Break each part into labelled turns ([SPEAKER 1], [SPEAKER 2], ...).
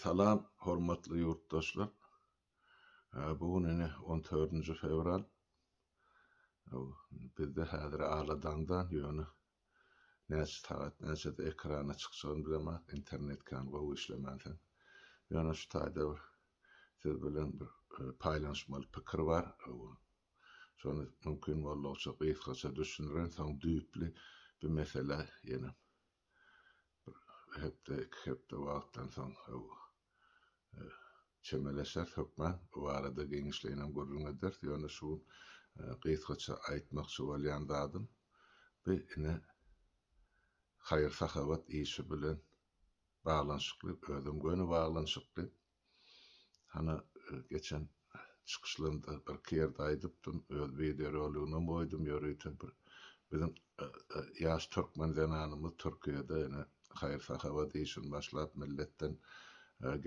[SPEAKER 1] Salam, hormatly ýurtdaşlar! Bu gün ine on dördünji fewral. Bizde häzir aladaňdan, ýöne näçe sagat näçede ekrana çykjagyny bilemäs, internet kän gowy işlemänsoň. Ýöne şu taýda bir siz bilen bir paýlanyşmaly pikir bar. Şony mümkin boldugyça gysgaça düşündireýin, soň düýpli bu meselä ýeneň. Bir hepde, iki hepde wagtdan soň çemeleşeris hökman. Bu barada giňişleýinem gürrüň ederis. Ýöne şu gün gysgaça aýtmakçy bolýan zadym, bu ine haýyr-sahawat işi bilen baglanyşykly, özem göni baglanyşykly. Hany geçen çykyşlarymda birki ýerde aýdypdym, öz wideoroliginem goýdum, ýörite bir biziň ýaş türkmen zenanymyz Türkiýede ine haýyr-sahawat işini başlap, milletden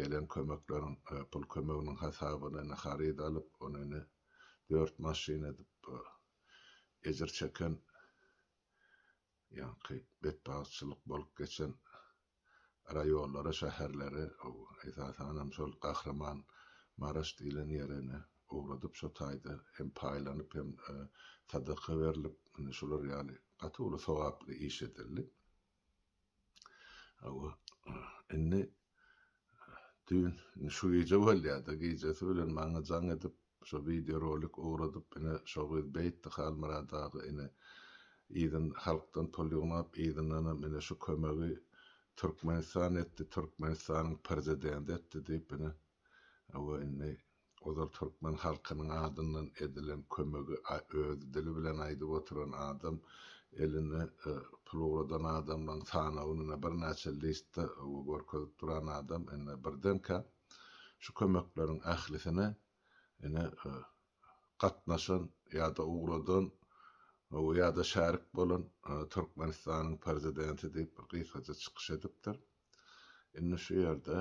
[SPEAKER 1] gelen kömekleriň, pul kömeginiň hasabyna ine haryt alyp, ony ine dört maşyn edip ejir çeken ýaňky betbagtçylyk bolup geçen raýonlara, şäherlere, esasanam şol Gahryman Maraş diýlen ýerene ugradyp, şo taýda hem paýlanyp, hem sadaka berlip, ine, şular ýaly gaty uly sogaply iş edildi. Hawa, indi düýn, indi şu gije bolýar-da, gijesi bilen maňa jaň edip, Şo wideo rolik ugradyp ine şo gyz beýtdi Halmyrat aga ine yzyn halkdan pul ýygnap yzyndanam ine şu kömegi Türkmenistan etdi Türkmenistanyň przidendi etdi diýip ine we indi ozal Türkmen halkynyň adyndan edilen kömegi öz dili bilen aýdyp oturan adam eline pul ugradan adamlaň sanawyny ine birnäçe listde we görkezip duran adam indi birdenkä Şu kömekleriň ählisine ine gatnaşan ýa-da ugradan we ýa-da şärik bolan Türkmenistanyň Prezidenti diýip bir gysgaja çykyş edipdir. Indi şu ýerde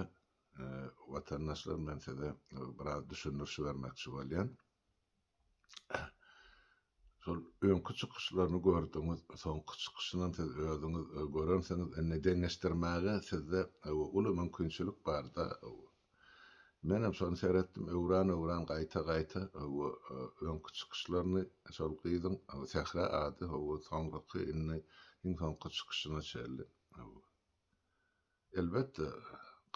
[SPEAKER 1] watandaşlar men size biraz düşündiriş bermekçi bolýan. Şol öňki çykyşlaryny gördüňiz, soňky çykyşynam siz özüňiz görensiňiz, indi deňeşdirmäge sizde uly mümkinçilik barda. Menem şony seretdim, öwran-öwran gaýta-gaýta öňki çykyşlaryny, şol gyzyň Sähra ady, soňraky indi iň soňky çykyşyna çenli. Elbetde,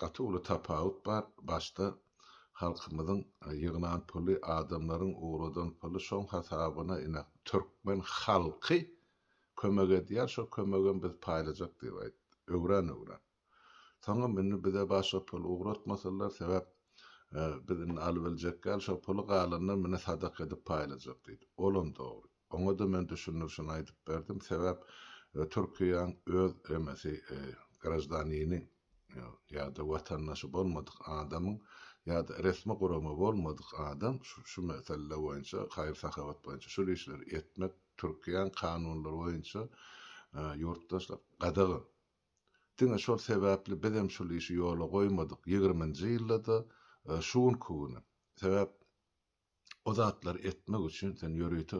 [SPEAKER 1] gaty uly tapawut bar, başda halkymyzyň ýygnan puly, adamlaryň ugradan puly, şoň hasabyna ine, türkmen halky kömek edýär, şo kömegem biz paýlajak diýip aýtdy, öwran-öwran. Soňam indi bize başga pul ugratmasalar, sebäp biz indi alybiljekgäl, şo puly galandan mine sadaka edip paýlajak diýdi. Olam dogry. Oňa-da men düşündirişini aýdyp berdim, sebäp Türkiýäň öz emesi graždanini ýa-da watandaşy bolmadyk adamyň ýa-da resmi gurama bolmadyk adam şu mesele boýunça, haýyr-sahawat boýunça şul işleri etmek Türkiýäň kanunlary boýunça ýurtdaşlar gadagan. Diňe şol sebäpli bizem şul işi ýola goýmadyk ýigriminji ýylda-da şu günki günem. Sebäp. O zatlary etmek üçin sen ýörite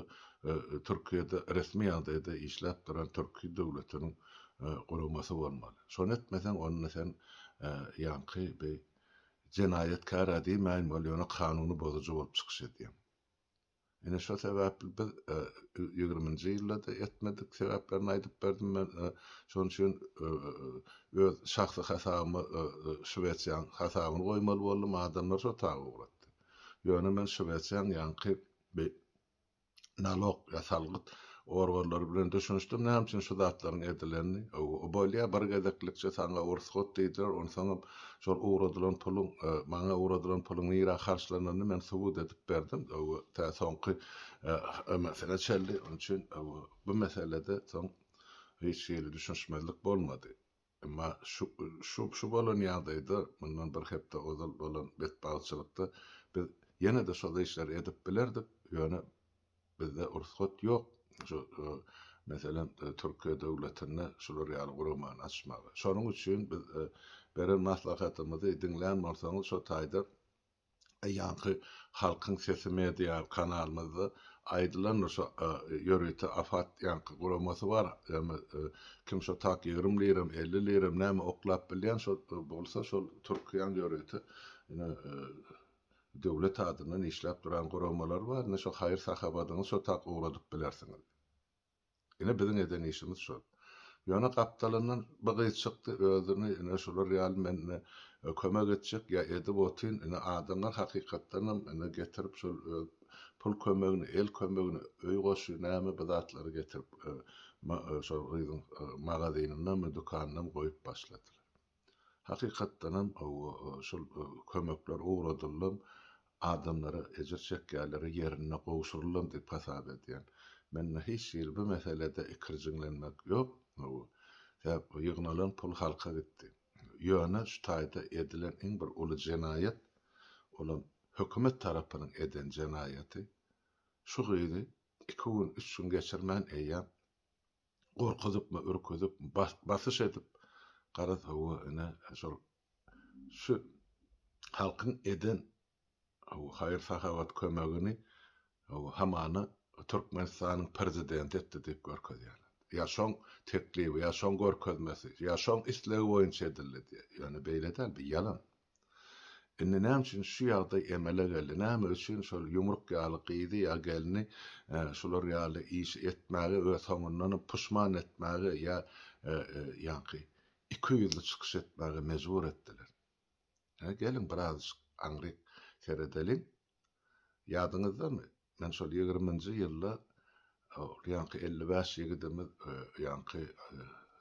[SPEAKER 1] Türkiýede resmi ýagdaýda işläp duran türki döwletiniň guramasy bolmaly. Şony etmeseň onda sen ýaňky bi jenaýatkär-ä diýmäýin weli ýöne kanuny bozujy bolup çykyş edýäň. Ine şo sebäpli biz ýigriminji ýylda-da etmedik sebäplerini aýdyp berdim men şonuň üçin öz şahsy hasabyma Şwesiýanyň hasabyny goýmaly boldum adamlar şo taýy ugratdy. Ýöne men şwetsiýanyň ýaňky bi nalog ýa salgyt organlary bilen düşünişdim, näme üçin şu zatlaryň edilenini, o bolýa bir gezeklikçe saňa ursgat diýdiler, onsoňam şol ugradylan puluň, maňa ugradylan puluň nirä harçlananyny men subut edip berdim, tä soňky ömesine çenli, onuçin bu meselede soň hiç hili düşünişmezlik bolmady. Emma şu şu bolan ýagdaýda, mundan bir hepde ozal bolan betbagtçylykda biz ýene-de şol işleri edip bilerdik, ýöne bizde rugsat ýok, şu meselem, Türkiýe döwletinde şular ýaly guramany açmaga. Şonuň üçin biz beren maslahatymyzy diňlän bolsaňyz, şo taýda Ýaňky Halkyň sesi media kanalymyzda aýdylandyr şo ýörite afat ýaňky guramasy bar ýagny kim şo tak ýigrimi liram elli liram näme oklap bilýän şo bolsa şol türkiýaň ýörite ine döwlet adyndan işläp duran guramalary bar ine şo haýyr sahabadyňyz şo tak ugradyp bilersiňiz. Ine biziň eden işimiz şol. Ýöne gapdalyndan bir gyz çykdy, özüni ine şular ýaly men ine kömek etjek ýa edip otyn, ine adamlar hakykatdanam ine getirip şol öz pul kömegini, el kömegini, öý goşy näme bir zatlary getirip şol gyzyň magazynynam, dükanynam goýup başladylar. Hakykatdanam şol kömekler ugradyldym, adamlara ejir çekýänlere ýerinde gowşuryldym diýip hasap edýän. Mende hiç hili bu meselede ikirjiňlenmek ýok. Sebäp ýygnalan pul halka gitdi. Ýöne şu taýda edilen iň bir uly jenaýat, olam hökümet tarapynyň eden jenaýaty, şu gyzy iki gün, üç gün geçirmän eýýäm gorkuzypmy, ürküzip, basyş edip, garaz, hawa, ine, şol şu halkyň eden haýyr-sahawat kömegini, hawa, hamana Türkmenistanyň Prezidenti etdi diýip görkezýärler. Ýa şoň teklibi, ýa şoň görkezmesi, ýa şoň islegi boýunça edildi diýýär. Ýöne beýle däl, bu ýalan. Indi näme üçin şu ýagdaý emele geldi? Näme üçin şol ýumruk ýaly gyzy ýa gelni şular ýaly işi etmäge we soňundanam puşman etmäge ýa ýaňky ikiyüzli çykyş etmäge mejbur etdiler? Hä, geliň biraz aňryk seredeliň. Ýadyňyzdamy, men şol ýigriminji ýylda ol ýaňky elli bäş ýigidimiz ýaňky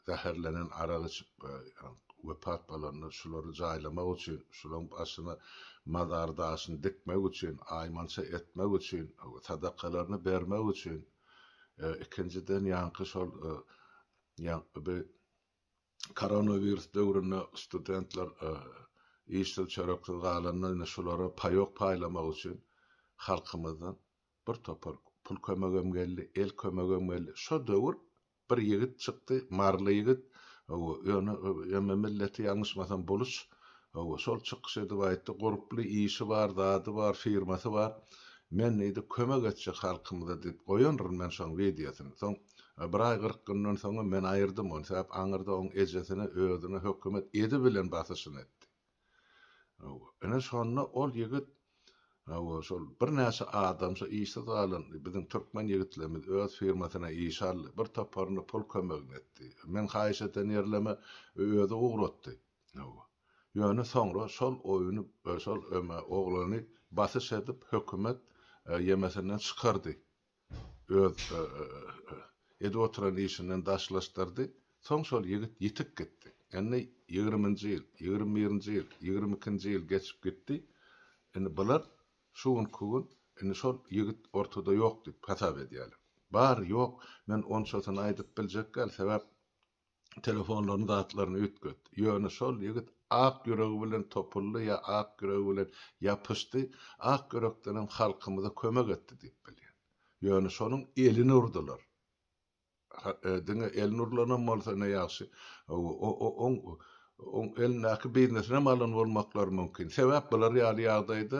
[SPEAKER 1] zäherlenen arak içip wepat bolanda şulary jaýlamak üçin, şularyň başyna mazar daşyny dikmek üçin, aýmança etmek üçin, sadakalaryny bermek üçin, ikinjiden ýaňky şol ýaňky bi Koronawirus döwründe studentler işsiz-çöreksiz galanda indi şulara paýok paýlamak üçin halkymyzdan bir topar pul kömegem geldi, el kömegem geldi. Şo döwür bir ýigit çykdy, maryly ýigit, hawa, ýöne emme milleti ýalňyşmasam boluç, hawa, şol çykyş edip aýtdy, gurply işi bar, zady bar, firmasy bar. Men diýdi, kömek etjek halkymyza diýip goýandyryn men şoň wideosyny. Soň Bir aý kyrk günden soňam men aýyrdym ony, sebäp aňyrda oň ejesine özüne hökümet edi bilen basyşyny etdi. Hawa, ine şonda ol ýigit, hawa, şol birnäçe adam şo işsiz galan biziň türkmen ýigitlerimiz öz firmasyna iş aldy, bir toparyna pul kömegini etdi. Meň haýyş eden ýerleme özi ugratdy. Hawa. Ýöne soňra şol oýny, şol öme oglany basyş edip hökümet ýemesinden çykardy. öz edip oturan işinden daşlaşdyrdy. Soň şol ýigit ýitip gitdi. Indi ýigriminji ýyl, ýigrimi birinji ýyl, ýigrimi ikinji ýyl geçip gitdi. Indi bular şu günki gün indi şol ýigit ortada ýok diýip hasap edýärler. Bar, ýok, men onçasyny aýdyp biljek däl, sebäp telefonlaryny zatlaryny üýtget. Ýöne şol ýigit ak ýüregi bilen topuldy ýa ak ýüregi bilen ýapyşdy, ak ýürekdenem halkymyza kömek etdi diýip bilýän. Ýöne şonuň elini urdular. Diňe elini urlanam bolsa ne ýagşy. Oň oň elindäki biznesinem alan bolmaklary mümkin. Sebäp bular ýaly ýagdaýda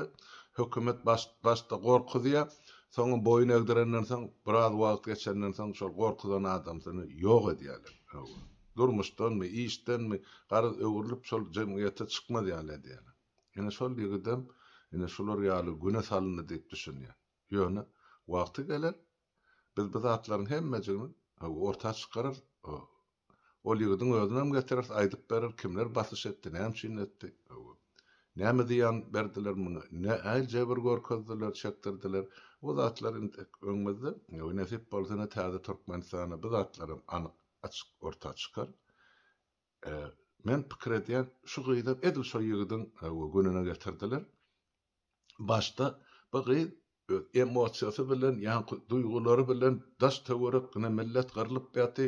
[SPEAKER 1] hökümet baş başda gorkuzýar, soňam boýun egdirenden soň, biraz wagt geçenden soň şol gorkuzan adamsyny ýok edýärler. Hawa. Durmuşdanmy, işdenmi, garaz öwrülip şol jemgyýete çykmaz ýaly edýärler. Ine şol ýigidem ine şular ýaly güne salyndy diýip düşünýär. Ýöne wagty geler, Biz bu zatlaryň hemmejigini orta çykarar, ol ýigidiň özünem getireris, aýdyp berer, kimler basyş etdi, näme üçin etdi, näme zyýan berdiler muny, nähili jebir görkezdiler, çekdirdiler, o zatlar indi öňümizde, nesip bolsa ine täze Türkmenistanda bu zatlaram anyk, açyk orta çykar. Men pikir edýän, şu gyzam edil şo ýigidiň gününe getirdiler, Başda bu gyz öz emosiýasy bilen, ýaňky duýgulary bilen daş töwerek ine millet gyrlyp ýaty,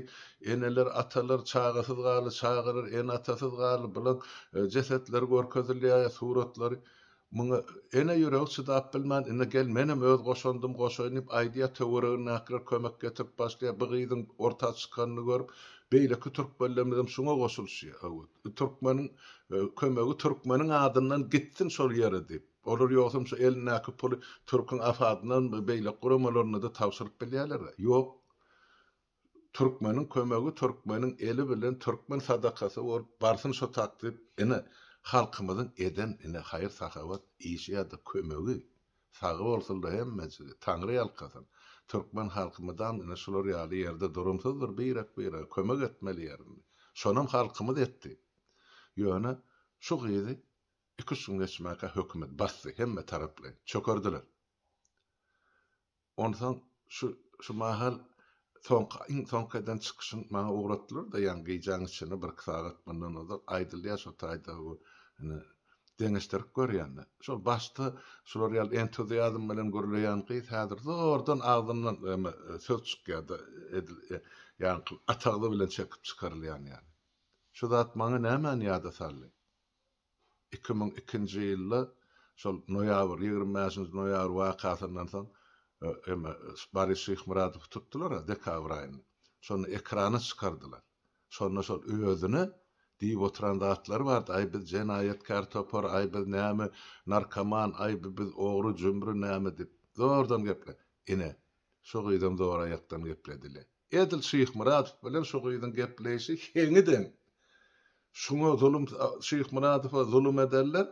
[SPEAKER 1] eneler, atalar çagasyz galy, çagalar ene-atasyz galy, bulaň jesetleri görkezilýär, suratlary. Muňa ene ýüregi çydap bilmän, ine gel menem öz goşandym goşaýyn diýip aýdýar, töweregindäkiler kömek getirip başlaýar, bu gyzyň orta çykanyny görüp beýleki türkmenlerimiz hem şuňa goşulyşýar. Hawa. Türkmeniň kömegi türkmeniň adyndan gitsin şol ýere diýip. Olar ýogsam şu elindäki puly türküň AFAD-yndan we beýleki guramalrnada tabşyryp bilýärler. Ýok. Türkmeniň kömegi türkmeniň eli bilen türkmen sadakasy bolup barsyn şo tak diýip. Ine halkymyzyň eden ine haýyr-sahawat işi ýa-da kömegi. Sag bolsunlar hemmejigi, Taňry ýalkasyn. Türkmen halky mydam ine şular ýaly ýerde durumsyzdyr, birek-birege kömek etmeli ýerinde. Şonam halkymyz etdi. Ýöne şu gyzy iki-üç gün geçmäkä hökümet basdy, hemme taraplaýyn. Çökerdiler. Onsoň şu şu mahal Soňky, iň soňky eden çykyşyň maňa ugratdylar-da, ýaňy gijäň içinde, birki sagat mundan ozal aýdylýar şo taýda bu, ine, deňeşdirip görýän-de. Şol başda şular ýaly entuziazm bilen gürleýän gyz häzir zordan agzyndan eme söz çykýar-da, edil, e, ýaňky atagzy bilen çekip çykarylýan ýaly. Şu zat maňa nämäni ýada saldy? Iki müň ikinji ýylda şol noýabr, ýigrimi bäşinji noýabr wakasyndan soň eme Boris Şyhmyradowy tutdular-a dekabr aýynda. Şonda ekrana çykardylar. Şonda şol özüne diýip oturan zatlary bardy, aý biz jenaýatkär topar, aý biz näme narkoman, aý biz ogry-jümri näme diýip. Zordan gepler. Ine, Şu gyzam zor aýakdan gepledi-le. Edil Şyhmyradow bilen şu gyzyň gepleýşi heňi deň. Şuňa zulum Şyhmyradowa zulum ederler,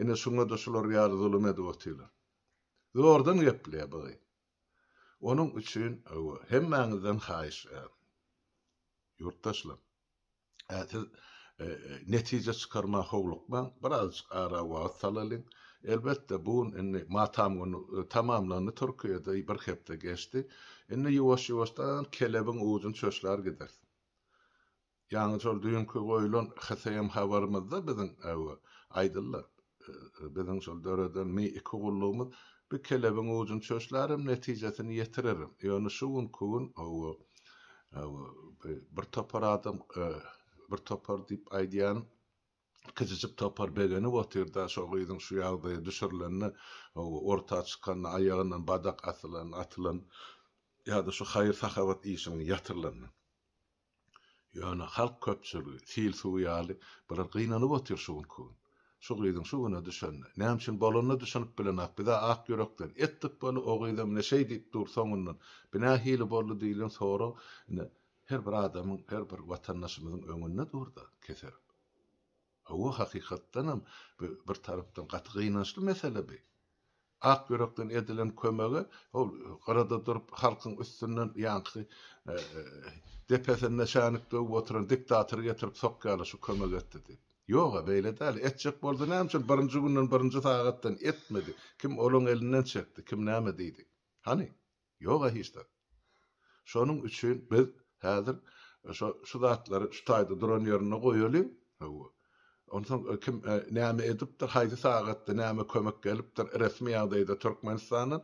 [SPEAKER 1] ine şuňa-da şular ýaly zulum edip otyrlar. Zordan gepleýär bu gyz. Onuň üçin, hawa, hemmäňizden haýyş, ýurtdaşlar. Ä siz netije çykarmaga howlukmaň, birazjyk ara wagt salalyň. Elbetde, bu gün indi matam güni tamamlandy Türkiýede, bir hepde geçdi. Indi ýuwaş-ýuwaşdan kelebiň ujyny çöşlär gideris. Ýaňy şol düýnki goýlan HSM habarymyzda biziň äwe, aýdyldy. Biziň şol döreden mi iki gullugymyz bir kelebiň ujuny çöşlärem, netijesini ýetirerem. Ýöne şu günki gün hawa, hawa, bir topar adam, bir topar diýip aýdýan, kiçijik topar begenip otyr-da, şo gyzyň şu ýagdaýa düşürilende, hawa, orta çykanda, aýagyndan badak asylan, atylan ýa-da şu haýyr-sahawat işiniň ýatyrylandan. Ýöne halk köpçüligi, sil suwy ýaly, biraz gynanyp otyr şu günki gün. Şu gyzyň şu güne düşenine. Näme üçin bolanyna düşünip bilenok. Biz-ä ak ýürekden. Etdik bolu, o gyzam ine şeý diýip dur soňundan. Bu nähili boldy diýlen sorag ine her bir adamyň, her bir watandaşymyzyň öňünde dur-da, keser. Hawa, hakykatdanam, bu bir tarapdan gaty gynançly mesele bi. Ak ýürekden edilen kömege ol gyrada durup halkyň üstünden ýaňky depesinde şänik döwüp oturan diktatory getirip sokýarlar şu kömek etdi diýip. Ýog-a, beýle däl. Etjek bolsa näme üçin birinji günden, birinji sagatdan etmedi? Kim olaň elinden çekdi? Kim näme diýdi? Hany? Ýog-a hiç zat. Şonuň üçin biz häzir şo şu zatlary şu taýda duran ýerinde goýalyň. Hawa. Onsoň kim näme edipdir, haýsy sagatda näme kömek gelipdir, resmi ýagdaýda Türkmenistandan,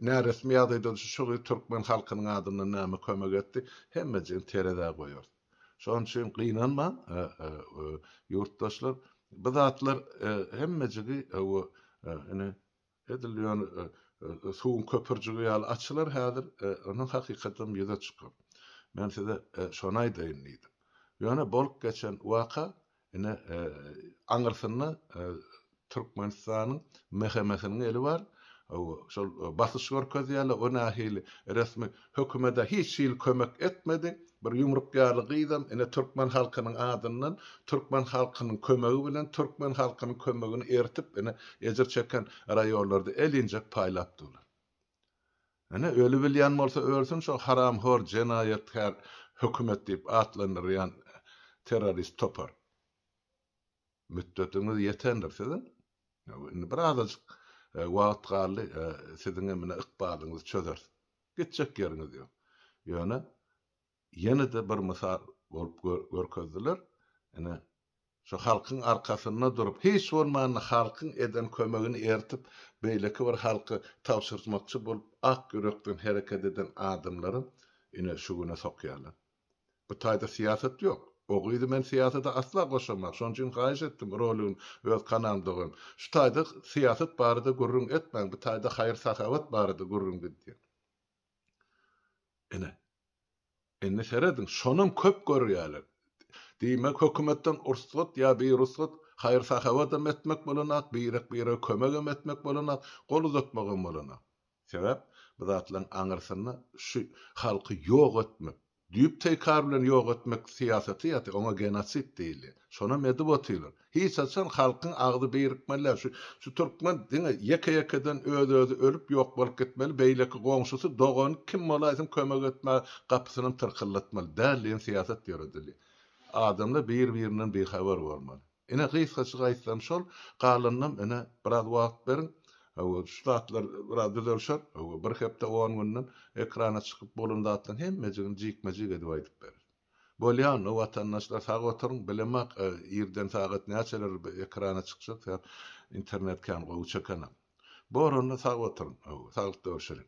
[SPEAKER 1] näresmi ýagdaýda şu şu türkmen halkynyň adyndan näme kömek etdi, hemmejigini terezä goýarys. Şonuň üçin gynanmaň, ýurtdaşlar, bu zatlar hemmejigi hawa, ine, Edil ýöne suwuň köpürjigi ýaly açylar häzir, onuň hakykadam ýüze çykar. Men size şony aýdaýyn diýdim. Ýöne bolup geçen waka, ine, aňyrsynda Türkmenistanyň MHM-siniň eli bar. Şol basyş görkezýärler, o nähili resmi Hökümede hiç hili kömek etmedi. Bir ýumruk ýaly gyzam ine türkmen halkynyň adyndan, türkmen halkynyň kömegi bilen, türkmen halkynyň kömegini eritip ine ejir çeken raýonlarda el injek paýlap durlar. Ine öli bilýän bolsa ölsün şo haramhor jenaýatkär hökümet diýip atlandyrýan terrorist topar. Mütdetiňiz ýetendir siziň. Indi bir azajyk wagt galdy, siziň hem ine ykbalyňyzy çözeris. Gitjek ýeriňiz ýok. Ýöne ýene-de bir mysal bolup görkezdiler. Ine, şu halkyň arkasynda durup, hiç bolmanda halkyň eden kömegini eritip, beýleki bir halka tabşyrmakçy bolup, ak ýürekden hereket eden adamlary ine şu güne sokýarlar. Bu taýda syýasat ýok. O gyzy men syýasada asla goşaman. Şonuň üçin haýyş etdim roligini öz kanalymda goýuň. Şu taýda syýasat barada gürrüň etmäň, bu taýda haýyr-sahawat barada gürrüň gidýär. Ine. Indi serediň, şonam köp görýärler. Diýmek hökümetden ursgat ýa birugsat haýyr-sahawatam etmek bolanok, birek-birege kömegem etmek bolanok, gol uzatmagam bolanok. Sebäp bu zatlaryň aňyrsynda şu halky ýok etmek, düýp teýkar bilen ýok etmek syýasaty ýatyr, oňa genosid diýilýär. Şonam edip otyrlar. Hiç haçan halkyň agzy birikmeli däl. Şu şu türkmen diňe ýeke-ýekeden öz-özi ölüp ýok bolup gitmeli, beýleki goňşusy, dogany kim bolaýsyn kömek etmäge gapysynam tyrkyldatmaly däl diýen syýasat ýöredilýär. Adamlar bir-birinden bihabar bolmaly. Ine, gysgaçyk aýtsam şol, galanynam ine, biraz wagt beriň, hawa, şu zatlar biraz düzelşer, hawa, bir hepde, on günden ekrana çykyp bolan zatlaryň hemmejigini jikme-jik edip aýdyp bereris. Bolýamy, watandaşlar, sag oturyň, bilemok, irden sagat näçeler ekrana çykjak, sebäp internet kän gowy çekenok. Boranda sag oturyň, hawa, saglyk görüşeliň.